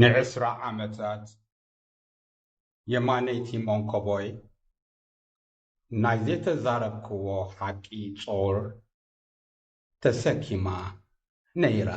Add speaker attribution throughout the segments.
Speaker 1: ንዕስራ ዓመታት የማነይቲ መንኮቦይ ናይ ዘይተዛረብክዎ ሓቂ ጾር ተሰኪማ ነይራ።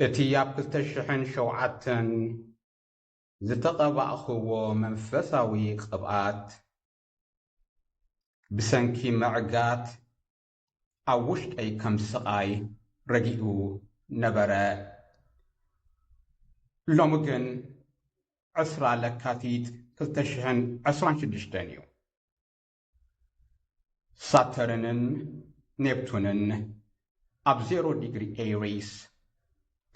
Speaker 1: እቲ ኣብ ክልተ ሽሕን ሸውዓተን ዝተቐባእክዎ መንፈሳዊ ቅብኣት ብሰንኪ ምዕጋት ኣብ ውሽጠይ ከም ስቓይ ረጊኡ ነበረ። ሎሚ ግን ዕስራ ለካቲት ክልተ ሽሕን ዕስራን ሽዱሽተን እዩ። ሳተርንን ኔፕቱንን ኣብ ዜሮ ዲግሪ ኤሪስ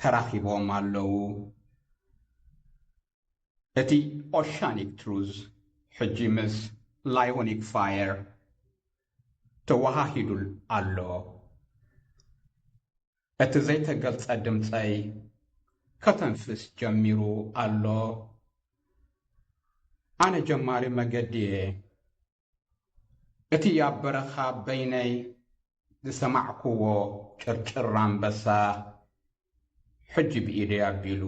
Speaker 1: ተራኺቦም ኣለዉ። እቲ ኦሻኒክ ትሩዝ ሕጂ ምስ ላዮኒክ ፋየር ተወሃሂዱ ኣሎ። እቲ ዘይተገልጸ ድምጸይ ከተንፍስ ጀሚሩ ኣሎ። ኣነ ጀማሪ መገዲ እየ። እቲ ኣብ በረኻ በይነይ ዝሰማዕኩዎ ጭርጭር ኣንበሳ ሕጂ ብኢደይ ኣቢሉ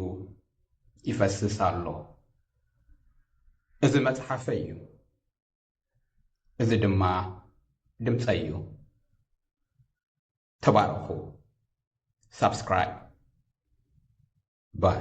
Speaker 1: ይፈስስ ኣሎ። እዚ መጽሓፈይ እዩ። እዚ ድማ ድምጸይ እዩ። ተባረኹ። ሳብስክራይብ ባይ